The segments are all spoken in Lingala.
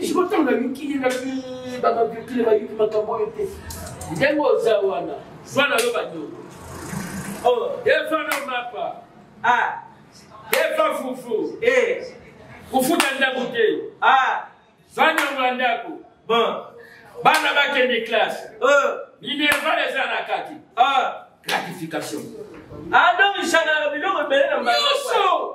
siko ntango nayuki ye naki bababiokile bayuki makambo oyo te ndenge oza wana zwa na yo banyoko eva na mapa eva fufu kofuta ndako te zwa nyongo ya ndako bana bakende classe minerval eza na kati gratification adongisana biloko ebele na nyonso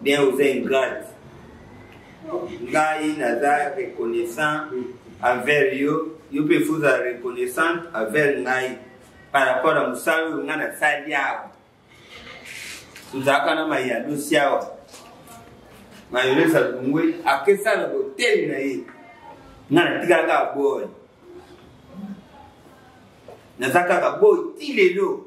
bien oza ingrate ngai naza reconnaissant envers yo yo mpe fo ozala reconnaissante envers ngai par rapport ya mosala oyo ngai nasali awa tozalaka na mayadosi awa mayolesa lungwe akesala boteli na ye ngai natikala kaka boye naza kaka boye ti lelo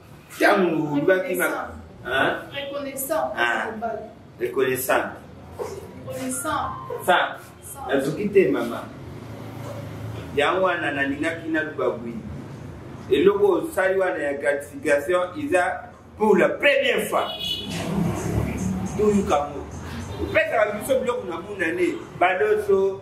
ntango olobaki na reconnaissant reconnaissant nazoki te mama yango wana nalingaki naloba bwi eloko osali wana ya gratification eza pour la première fois toyukango opesaka biso biloko na monane baloso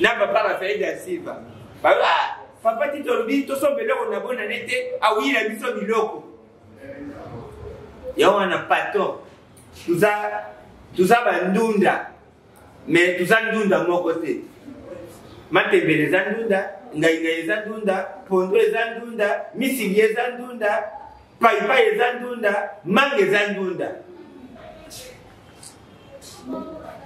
na papa rafael da silva ah, papa ti tolobi tosomba eloko na bona ne te awuyila biso biloko yango wana patron toza toza bandunda mais toza ndunda moko te matembele eza ndunda ngaingai eza ndunda pondo eza ndunda misili eza ndunda paipai eza ndunda manga eza ndunda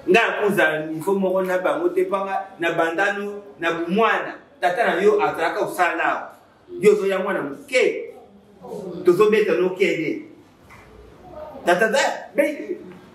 nga akozala nivo moko na bango te mpanga na bandano na bomwana tata na yo azalaka osala nao yo ozoya mwana moke tozobeta nokende tata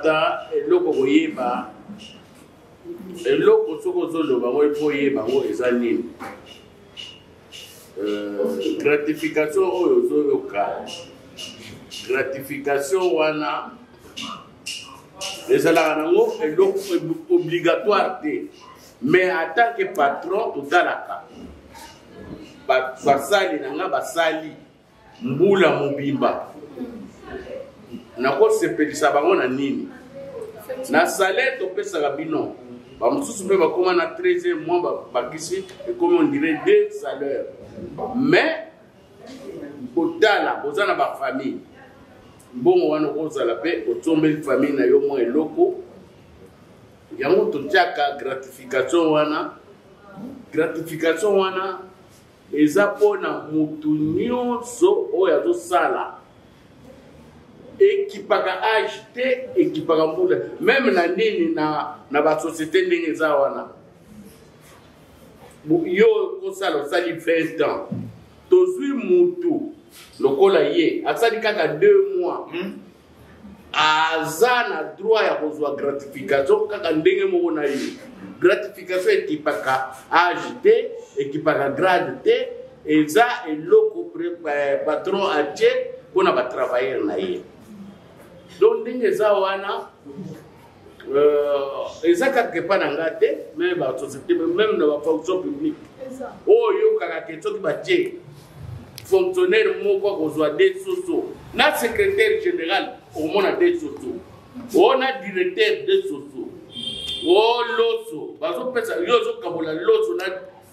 ata eloko koyeba eloko soki ozoloba yango epo oyeba yango eza nini euh, gratification oyo ozoyoka gratification wana ezalaka nango eloko obligatoire te mais en tant que patron totalaka basali na nga basali mbula mobimba nakosepelisa bango na nini na salaire topesaka bino bamosusu mpe bakoma na 13 mois babakisi ekomi ondire de salaire mais kotala boza na bafamille mbongo wana okozala mpe osombeli famille na yo mwa eloko yango totiaka gratification wana gratification wana eza mpona motu nyonso oyo azosala ekipaka age te ekipaka mbula meme na nini na, na basociété ndenge eza wana yo kosala osali 20 ans tozwi mutu lokola ye asali kaka 2 mois hmm? aza na droit ya kozwa gratification kaka ndenge moko na ye gratification ekipaka age te ekipaka grade te eza eloko eh, patron atie mpo na batravailleur na ye donc ndenge eza wana Euh, eza kaka epai na ngai te me basociété meme na bafonction publique oyo oyokaka ke soki batie fonctionnaire moko akozwa de soso na secrétaire général okomona de soso o na directeur de soso o loso bazopesa yo ozokabola loso na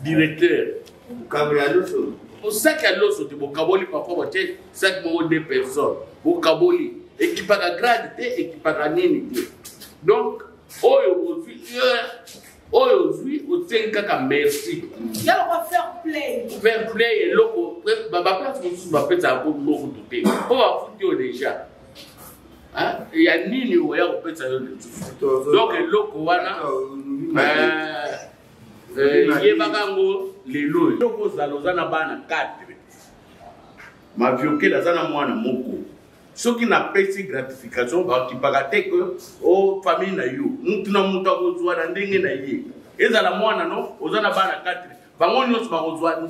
directeur Mokabo ya loso. Mosaki ya loso te bokaboli parfois batie saki moko deux personnes bokaboli ekipaka grade te ekipaka nini te donc oyo ozwi oyo ozwi osengi kaka merci fair play eloko baplace mosusu bapesaka po biloko tu te mpo bafuti yo déjà ya nini oya kopesa yo lisusu donc eloko wana yebaka yango lelo oyo eloko ozala oza na bana 4 maviokele aza na mwana moko soki napesi gratification bakipaka te ke o oh, famille na yo mutu na mutu akozwa na ndenge na ye ezala mwana no oza na bana 4 bango nyonso bakozwa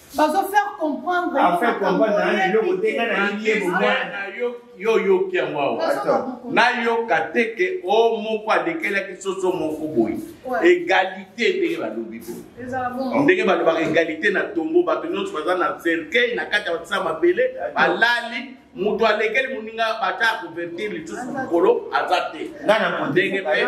bazo faire comprendre en fait comprendre na eloko te nga na yie bomwana na yo yo yoki yango awa nayoka te ke o moko adekelaki soso moko boye egalite ndenge balobi boye ndenge balobaka egalite na tombo bato nyonso baza na cercueil na kati ya batisa mabele balali moto alekeli moninga bata couverture lisusu mokolo aza te ndenge mpe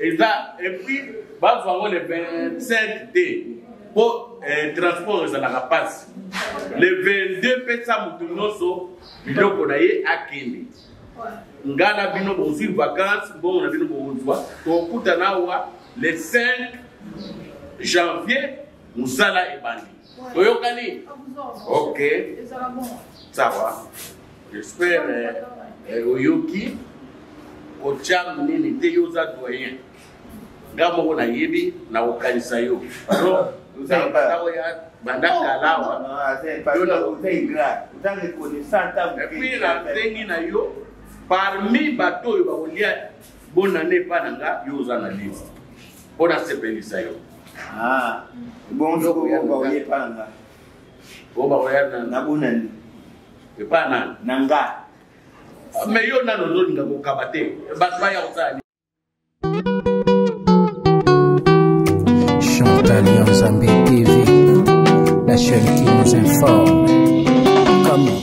eza epuis bazwa yango le 25 te mpo eh, transport ezalaka mpasi le 22 pesa moto nyonso biloko na ye akende nga na bino bozwi vacances mbongo na bino bokozwa tokutana awa le 5 janvier mosala ebandi oyokani ok sawa jespere eh, oyoki kotiam nini te yo oza doyen nga moko nayebi nakokanisa yo banda kalawa epuis nasengi na yo parmi bato oyo bakolia Bonne année epai na nga yo oza na liste mpo nasepelisa yo ah, bonjour oyo baoye epai na nga oyo baoya na bonani epai na na nga ah, me yo nano ozolinga kokaba te bato baya kosala Chantal Yanzambe TV, la chaîne qui nous informe. Comment